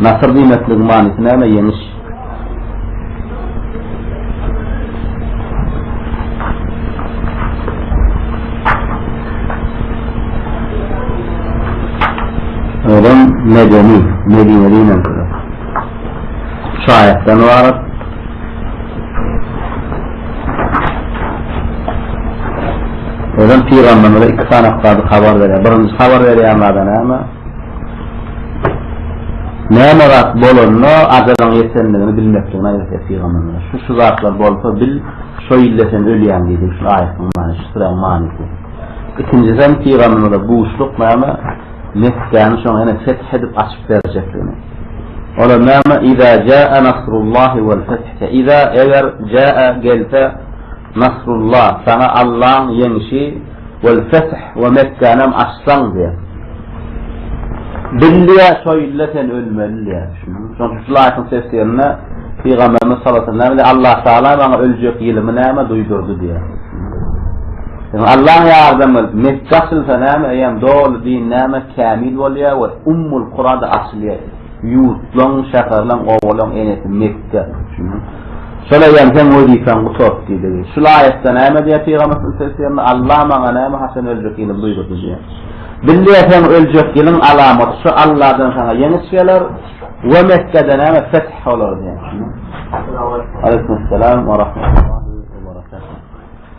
Nasyr diýmekligiň manysy näme? Ýeňiş. Odan medeni, medeni diýmek. Şu aýatdan ibarat. Odan pygamberimize iki sany habar berýär. Birinji habar berýär näme? Näme zat bolanda ajalyň ýetendigini bilmekdigini aýatda pygamberimiz. Şu şu zatlar bolsa bil, şo ýylda sen ölýäň diýdi. Şu aýatyň many, şu suraň manysy. Ikinjisi hem pygamberimize buşluk näme Mekgäni şoň ene feth edip açyp berjekdigini. Olar näme iza jaa nasrullahi wal feth. Iza eger jaa gelse Nasrulla, saňa Allaň ýeňşi, wal feth we Mekgänem açsaň diýýär. Bilýä şo ýylda sen ölmeli diýýär. Şoň üçin şul aýatyň tefsirinde Pygamberimiz sallallahu aleyhi ve sellem Allah Taala maňa öljek ýylymy näme duýdurdy diýýär. Ýöne Allaň ýardamy bilen Mekge açylsa näme eýýäm doly din näme kämil bolýar we Ummul Kurada açylýar. Ýurtlaň, şäherleň, obalaň enesi Mekge. Şola ýaň seň wezipäň gutardy diýdigi. Şul aýatda näme diýýär Pygamberimiz sslm? Alla maňa näme haçan öljek ýylymy buýrdy diýýär. Bilýä seň öljek ýylyň alamaty şu Alladan saňa ýeňiş geler we Mekgede näme feth bolar diýýär. Aleýkum salam we rahmatullah.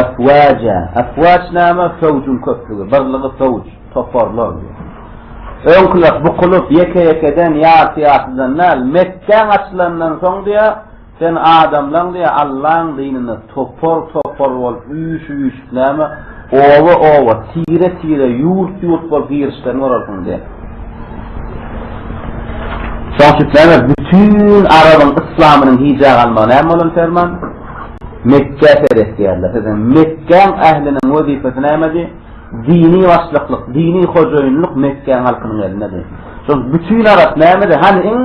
Efwaja, efwaj näme? Fewjüň köplügi, birligi fewj, toparlar diýýär. Öňküler bukulyp, ýeke-ýekeden, ýarty-ýartydan däl, Mekgäň açylandan soň diýýär, sen adamlaň diýýär, Allaň dynynda topar-topar bolup, üýşüp-üýşüp näme, oba-oba, tire-tire, ýurt-ýurt bolup girişlerini görersiň diýýär. Şoň üçin näme, bütin arabyň yslamynyň hijä galmagy näme bolan ferman? Mekgä seretýärler. Siziň Mekgäň ähliniň wezipesi nämedi? Dini başlyklyk, dini hojaýynlyk Mekgäň halkynyň elindedi. Şol bütin arap nämedi? Hany iň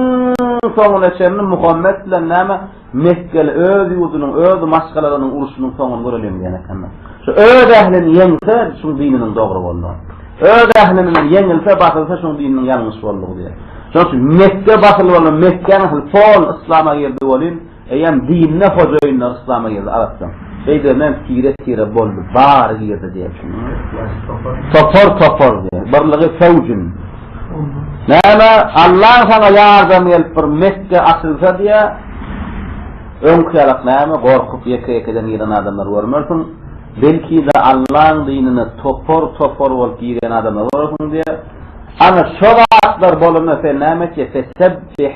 soňuna çenli Muhammet bilen näme Mekgeli öz ýurdunyň, öz maşgalalarynyň uruşynyň soňuny göreliň diýen ekenler. Şu öz ählini ýeňse, şuň dininiň dogry boldugy. Öz ähli bilen ýeňilse, basylsa şuň dininiň ýalňyş boldugy diýer. Şonuň üçin Mekge basyl boldy, Mekgäň ähli pol yslama girdi welin, Eýýäm dinde hojaýynlar yslama girdi arapdan. Şeýdip men tire tire boldy bary girdi diýip. Topar topar diýip. Birligi fewjin. Näme Allaň saňa ýardamy gelip bir Mekge açylsa diýe. Öňki ýalak näme gorkup ýeke ýekeden giren adamlar görmersiň. Belki de Allaň dinine topar topar bolup girýän adamlar görersiň diýe. Ana şo zatlar bolanda sen näme etjek? Fesebbih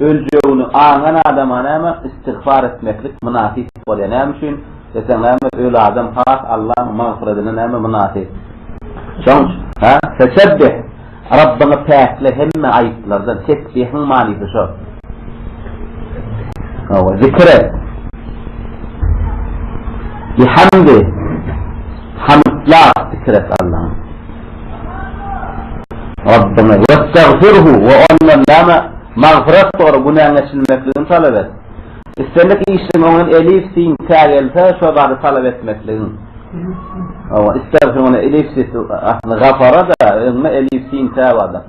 Öljegini aňan adama näme istigfar etmeklik mynasyp bolýar? Näme üçin desem näme öl adam has Allaň magfyradyna näme mynasyp. Şoň üçin. Hä? Fesebbih, Rabbyňy päkle hemme aýyplardan, tesbihiň manysy şo. Hawa, zikr et. Bihamdi, hamdla zikr et Allaňy. Rabbyňa westagfirhu we ondan näme magfyrat sora, günäň geçirilmekligini talap et. Islendik işiň öňünden elif, sin, tä gelse, şo zady talap etmekligiň. Hawa, islegfiruna elif, sin, aslynda gafara-da, öňünde elif, sin, tä bardyr.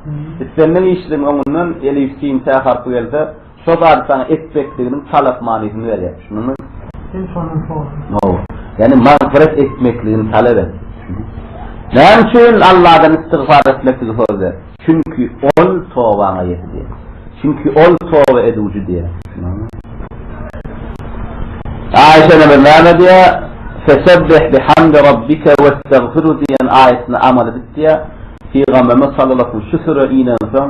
Islendik işiň öňünden elif, sin, tä harpy gelse, Şo zady saňa etmekliginiň talap manysyny berýär. Şunduňmy? Sen şonuň şonuň. Hawa. Ýagny magfyret etmekligini talap et. Näme üçin Allahdan istigfar etmekligi soz ber? Çünki Ol tobaňa ýetýär. Çünki Ol toba ediwji diýýär. Aişe ene näme diýýär? Fesebbih bihamdi rabbike westagfiru diýen aýatyny amal edip diýýär. Pygamberimiz sallallahu şu süre inensoň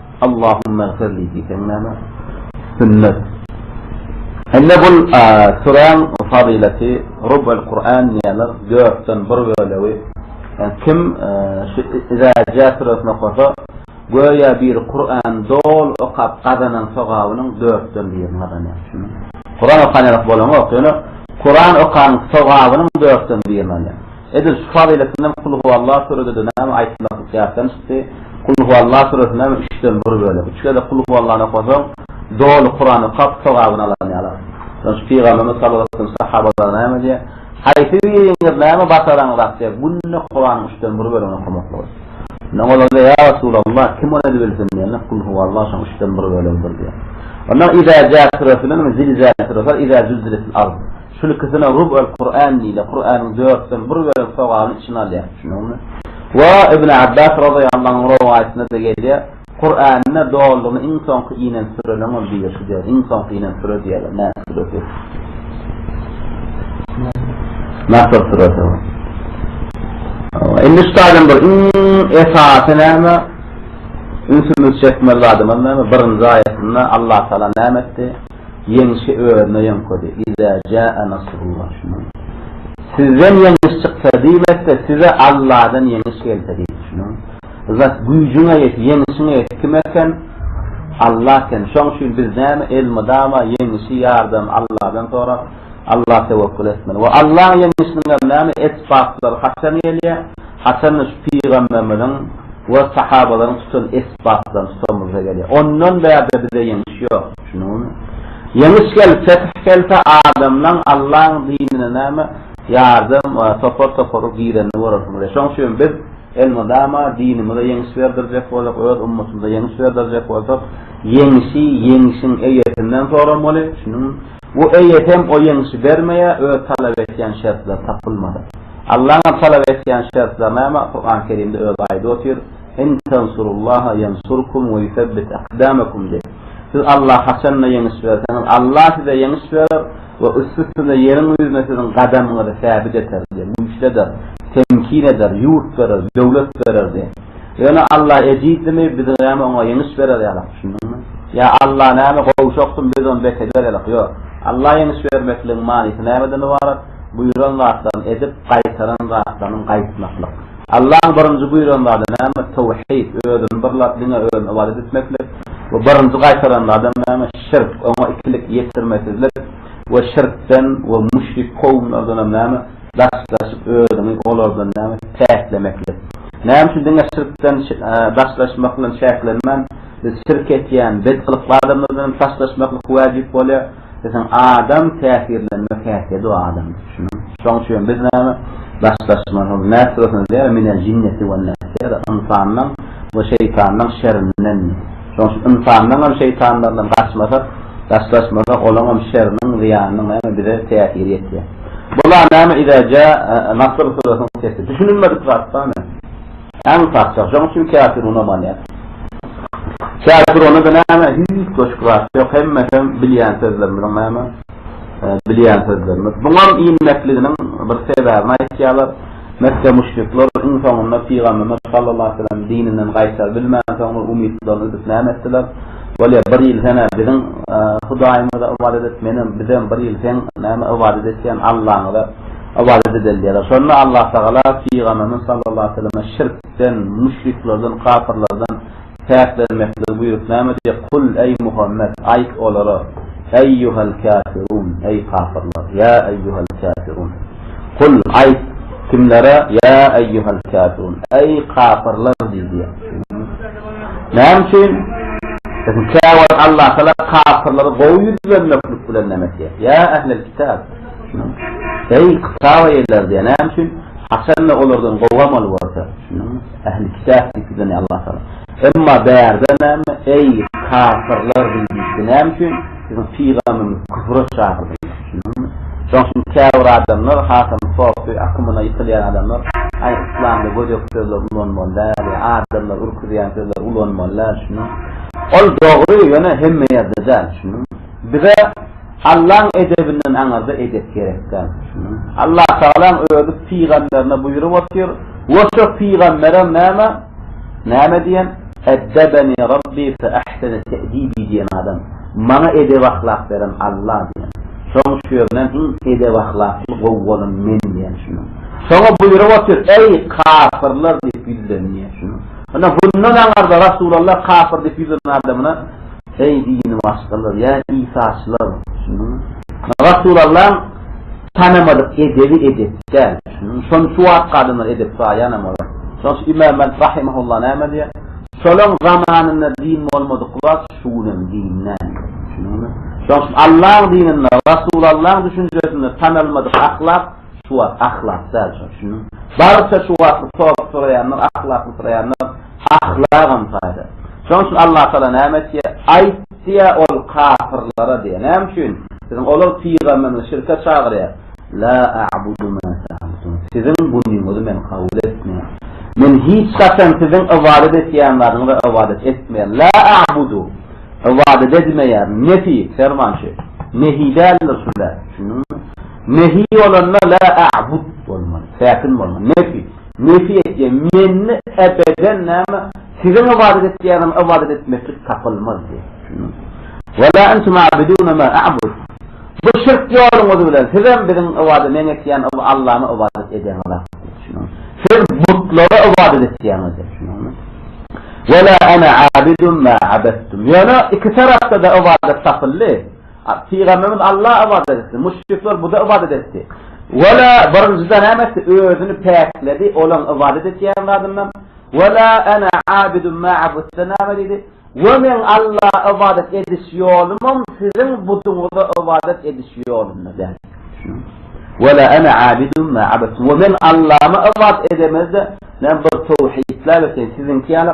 Allahumma agfirli diýseň näme? Sünnet. Indi bu süräň fazylaty Rubul Kuran diýýärler, dörtden bir bölegi. Kim şu Iza ja süresini okasa, göýä biri Kurany doly okap gazanan sogabynyň dörtden birini gazanýar. Kuran okan ýaly bolaňok, ýöne Kuran okanyň sogabynyň dörtden birini alýar. Edil şu fazyletindem Kulhuwallah süredede näme aýtmaklyk ýatdan çykdy. Kulhuwallah süresini näme üçden bir bölek, üç gezek Kulhuwallany okasaň, doly Kuran okap, sogabyny alan ýaly. Ýöne şu Pygamberimiz salawatdyr sahabalar näme diýýär? Haýsy biriňiz näme başaraňyz akja, günde Kuranyň üçden bir bölegini okamaklygy. Şonda olar diýýär, ýa Resulallah, kim ony edibilsin diýende, Kulhuwallah şonuň üçden bir bölegidir diýýär. Ondan Iza Jaa süresini, Zilzal süresi, Iza Zülziletil Ard. Şul ikisine rub el Kur'an diýilýär, Kur'anyň dörtden bir bölek sogabyny içine alýar, düşündiňizmi? We Ibn Abbas razyýallahu anh rowaýatynda-da gelýär, Kur'anyny dolugyny iň soňky inen sürenem ol birisi diýýär, iň soňky inen süre diýýärler, Nas süresi. Nasr süresi. Indi şu taýdan bir iň esasy näme? Ünsümizi çekmeli zadymyz näme? Birinji aýatynda Allah Taala näme etdi? Ýeňşi özüne ýöňkedi. Iza jaa nasrullah şuny aň. Sizden ýeňiş çyksa diýmekde size Alladan ýeňiş gelse diýdi şuny aň. Zat güýjüňe ýet, ýeňşiňe ýet kim eken? Allah eken. Şoň üçin biz näme elmydama ýeňişi, ýardamy Alladan sorap, Allaha tewekkül etmeli. We Allaň ýeňişiniňem näme esbaplary haçan gelýär? Haçanda şu pygamberimiziň we sahabalaryň tutan esbaplaryny tutanymyzda gelýär. Ondan bärde bize ýeňiş ýok. Ýeňiş gelip, fetih gelse, adamlaň Allaň dinine näme ýardam we topar-toparyl girenini görersiň. Ine, şoň üçin biz elmydama dinimize ýeňiş berdirjek boljak, öz ummatymyza ýeňiş berdirjek bolsak, ýeňişi ýeňişiň eýesinden soramaly. Şunuň bu eýe hem o ýeňişi bermeýär, öz talap etýän şertleri tapylmasa. Allaňam talap etýän şertleri näme? Kuran-Kerimde özi aýdyp otyr. In tensurullaha ýensurkum we ýusebbit akdamakum diýip, siz Allaha haçan-da ýeňiş berseňiz, Allah size ýeňiş berer we üst-üstüne ýeriň ýüzüne siziň gadamyňyzy säbit eder, diýip, güýçli eder, temkin eder, ýurt berer, döwlet berer, diýip. Ýöne Allah ejizlimi, biz näme oňa ýeňiş berer ýalyk, düşündiňmi? Ýa Allah näme, gowşakmy, biz ony bes eder ýalyk? Ýok. Allaha ýeňiş bermekligiň manysy nämeden ybarat? Buýran zatlaryny edip, gaýtaran zatlarynyň gaýtmaklyk. Allaň birinji buýran zady näme? Towhid, Özüni birläp, diňe Özüne ybadat etmeklik. We birinji gaýtaran zadam näme? Şirk, Oňa ikilik ýetirmesizlik. We şirkden we müşrik kowumlardanam näme? Daşlaşyp, özüňi olardan näme? Päklemeklik. Näme üçin diňe şirkden daşlaşmak bilen çäklenmän, biz şirk etýän, bedhylykly adamlardanam daşlaşmaklyk wäjip bolýar? Esasan adam täsirlenmek häsiýeti bu adam şunuň şoň üçin biz näme daşlaşmaly nefs bolsa diýýär minel jinneti wen nefs diýýär ynsandan we şeýtandan şerinden şoň üçin ynsandan hem şeýtanlardan gaçmasak daşlaşmasak olaň hem şeriniň zyýanynyň näme bize täsiri ýetýär bular näme iza ja'a nasr surasynyň sesi düşünilmedik zat damy. Äň parça. Şoň üçin käpir unamanýar. Käpir onada näme, hiç goşgy zat ýok, hemmesem bilýän sözlerimiziň näme, bilýän sözlerimiz. Buňam inmekliginiň bir sebäbini aýtýarlar. Mekge müşrikler iň soňunda Pygamberimiz sallallahu aleýhi weselem dininden gaýtar bilmänsoňlar umytlaryny üzüp näme etdiler, Bolýa, bir ýyl sen-ä biziň Hudaýymyza ybadat et, menem, bizem bir ýyl seň näme ybadat etýän Allaňyza. Ybadat edilýär. Şonda Allatagala Pygamberimiz sallallahu aleýhi we selleme şirkden, müşriklerden, kapyrlardan päklenmekligi buýrup, näme diýýär, Kul, eý, Muhammet, aýt olara, Eýýuhel käfirun, eý, kapyrlar, ýa eýýuhel käfirun. Kul, aýt, kimlere, ýa eýýuhel käfirun, eý, kapyrlar diý diýýär. Näme üçin? Çünki käwagt Allatagala kapyrlary gowy ýüz bermeklik bilen näme etýär? Ýa ehlel kitap! Eý, kitap eýeleri diýýär. Näme üçin? Haçanda olardan gowy amal görse, düşündiňmi? Ähli kitap diýip bize näme Allah Taala. Emma bärde näme? Eý, kafirler diýdi. Näme üçin? Siziň pygamberimiz küfre çagyrdy. Düşündiňmi? Şoň üçin käbir adamlar hasam sofy akymyna ýykylýan adamlar, aý, yslamda gödek sözler ulanmaly däl, adamlary ürküzýän sözler ulanmaly däl, düşündiňmi? Ol dogry, ýöne hemme ýerde däl, düşündiňmi? Bize Allaň edebinden aňyrda edep gerek däl. Allatagalaň özi pygamberine buýrup otyr, we şo pygamberem näme, näme diýen, Eddebeni Rabbi fe ahsene te'dibi diýen adam, maňa edep-ahlak beren Alla diýen. Şoň şu ýerinden iň edep-ahlakly, gowy bolan men diýen şunuň. Şoňa buýrup otyr, Eý, kafirler diýip ýüzlen diýen şunuň. Ine, bundan aňyrda Resulallah kafir diýip ýüzlenen adamyna Eý dini başgalar, ýa isaçylar, düşündiňmi? Rasulallam tanamadyk edebi edep däl, düşündiňmi? Şony şu wagtky adamlar edep saýanam olar. Şonuň üçin Imam Malik rahimehullah näme diýýär? Şolaň zamanynda din bolmadyk wagt şu gün hem din däl, düşündiňmi? Şonuň üçin Allaň dininde, Rasulallaň düşünjesinde tanalmadyk ahlak, Şu wagt ahlak däl şony düşüniň. Baryça şu wagtlyk sorag soraýanlar ahlakly soraýanlar ahlagam saýda. Şonuň üçin Allah Taala näme etýär? Aýt diýýär ol kapyrlara diýýär. Näme üçin? Siziň olar pygamberinizi şirke çagyrýar. La a'budu ma ta'budun. Siziň bunyňyzy men kabul etmeýän. Men hiç haçan siziň ybadat etýän zadyňyza ybadat etmeýän. La a'budu. Ybadat edmeýän. Nefi, ferman şu. Nehi däldir şunda. Düşündiňmi? Nehi bolanda la a'bud bolmaly, säkin bolmaly. Nefi, nefi etýän, mende ebeden näme, siziň ybadat etýäniňiz ybadat etmeklik tapylmaz diýýär. Wa la entum a'biduna ma a'bud. Bu şirk ýoluňyz bilen sizem biziň ybadat, meň etýän Allama ybadat edeniňiz hak. Siz butlara ybadat etýäňiz. Wa la ana a'bidun ma a'badtum. Ýöne iki tarapda-da ybadat tapyldy. Pygamberimiz Allaha ybadat etdi. Müşrikler buta ybadat etdi. Wala birinjide näme etdi? Özüni päkledi, olaň ybadat etýän zadyndan. Wala ana abidun ma abudtun näme diýdi? We men Allaha ybadat ediş ýolumam siziň butuňyza ybadat ediş ýolunda däl. Wala ana abidun ma abudtun. We men Allahama ybadat edemezde, men bir towhidläp etýän, siziňki ýaly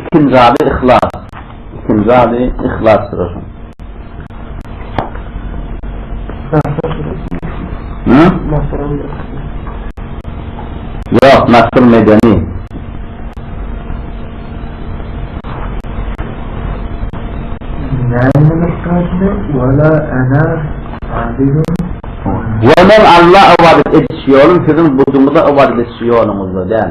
Ikinji ady Yhlas. Ikinji ady Yhlas Şuraşyň. Ýok, Nasr Medeni. Ýöne Alla ybadat ediş ýolum siziň buduňyza ybadat ediş ýoluňyzda däl.